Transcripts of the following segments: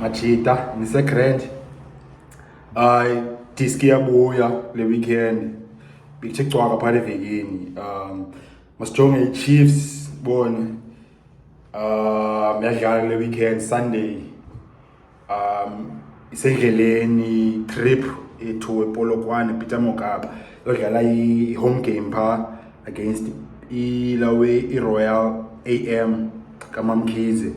Machita ngise grand ay diski yabuya le weekend bikuthe cwaka phale vekini um masijonge iChiefs bone um yadlala le weekend Sunday um isendleleni trip ethu epolokwane peter mokaba yodlala i-home game phaa against ilawe iroyal am kamamkhize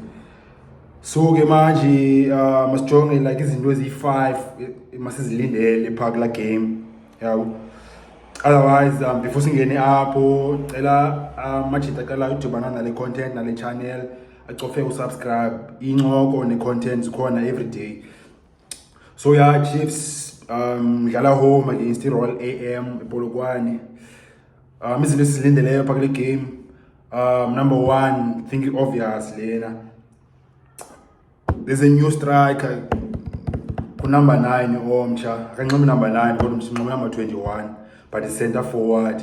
so ke manje uh, masijonge like izinto eziyi-five eh, masizilindele phaa kula game yabo otherwise um, before singene apho cela um, uh, majita qala udibana nale content nale channel acofe usubscribe incoko ne-content zikhona everyday so ya yeah, chiefs um dlala home against i-royal a m epolokwane um izinto esizilindeleyo pha kule game um number one think i-obvious lena there's a new striker kunumber nine omtsha akanxibi number nine kodwa msinxibi number twenty-one but i-center forward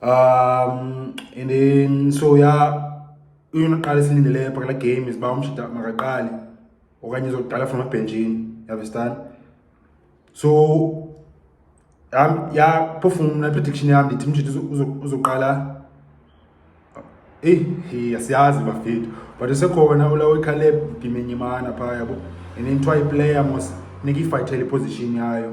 um and then so ya into oqala esilindeleyo pha kula game is uba umshida makaqali okanye izokudala from ebhenjini yavestani so yaphofu mna prediction yam ndithi umshida uzoqala eyi hey, asiyazi bafethu but usekhona ulawo ikhaleb ndimenyimana phaa yabo and then twa iplayer mos funeka ifayithele iposition yayo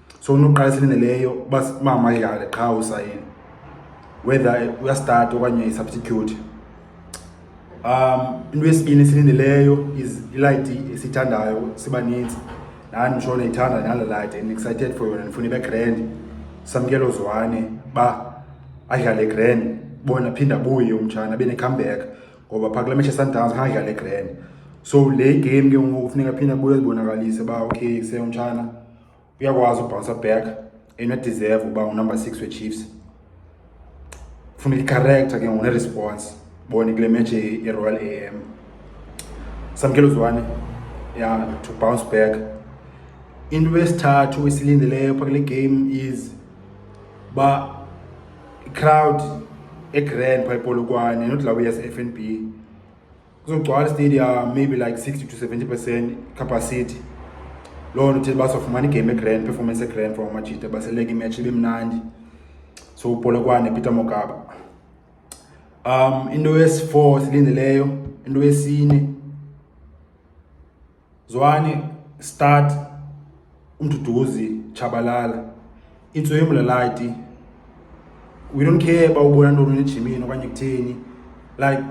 so unoqala esilindeleyo uba mama yale qha usayini whether uyastart okanye isubstitute um into yesibini esilindeleyo is ilayithi esithandayo sibaninzi nani msho niyithanda nala layithi and excited for yona ndifuna ibe grand samkelo zwane ba adlale grand bona phinda buye umtshana abe ne-comeback ngoba phaa kula mesha sundowns khange adlale grand so le game ke ngoku funeka phinda buye zibonakalise uba okay se umtshana uyakwazi ubhounsa back enodeserve uba unumber six wechiefs funa icharacter ke ngoku neresponse bone kule match yeroyal a m samkela uzwane ya to bounce back into esithathu esilindeleyo pha kule game is uba icrowd egrand pha epolokwane nodlawuyas-f n b kuzogcwala istadium maybe like 60 to 70 percent capacity loo nto uthile basofumana igame egrand performance egrand from amajita baseleka imatch ibe mnandi so upolokwane peter mogaba um into yesi-four silindeleyo into yesine Zwani start umduduzi tshabalala intso yomlalati we don't care uba ubona ntoni ejimini okanye kutheni like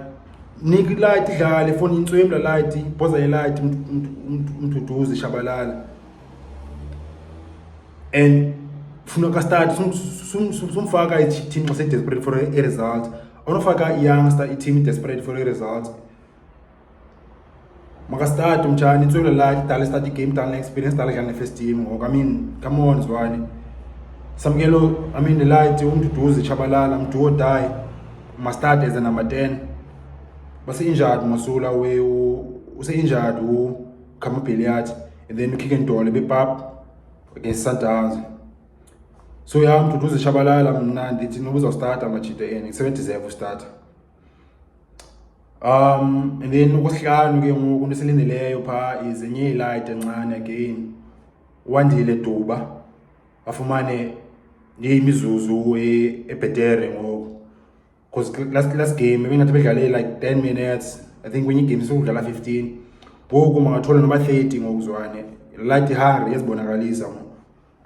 nika ilight idlala efoni intso yomlalati bhoza yelight umduduzi tshabalala and funa ka start sumfaka i-team xa se-desperate for a-result onofaka i-youngster i-team i-desperate for a-result makasitati mtshani intswelo lati dala isitati game dala ne-experience dala kuyane first team ngoku i mean come on zwane samkelo i mean lati umduduzi tshabalala mduo die mastart as a number 10 base-injured masula use-injured ukamabheliat and then ukhike ntole bepap against sundowns so ya mduduzi tshabalala mna ndithi noba uzawustarta amajita eni kusebendideserve ustarta Um, and then ukuhlanu ke ngoku into esilindeleyo phaa is enye ilight encane again wandile duba afumane ndiye imizuzu e, ebhetere ngoku because last, last game ebingathi bedlale like 10 minutes i think kwenye igame sokudlala 15 ngoku mangathole noba 30 ngokuzwane light hungry yazibonakalisa ngoku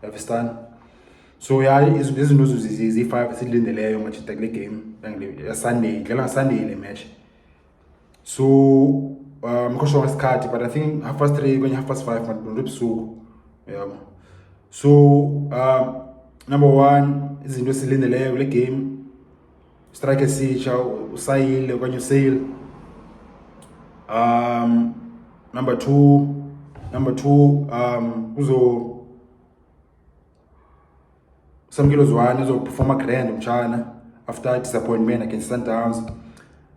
Understand? So yeah, izinto ziyi-five esilindeleyo machita kule game yasunday idlala ngasunday le match so um ngikhoshwa ngesikhathi but i think half past three kwenye half past five mandibona ebusuku yabo so um number one izinto esilindeleyo kule game strike esitsha usayile okanye useyile um number two number two um kuzo samkelo zwane uzoperforma grand mtshana after disappointment against sundowns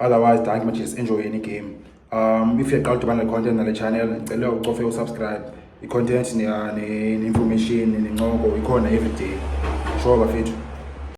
otherwise thank much is enjoy any game um if uyaqala udibana le content nale channel ndicela ucofe usubscribe i-content ne-information nencoko ikhona everyday sure bafethu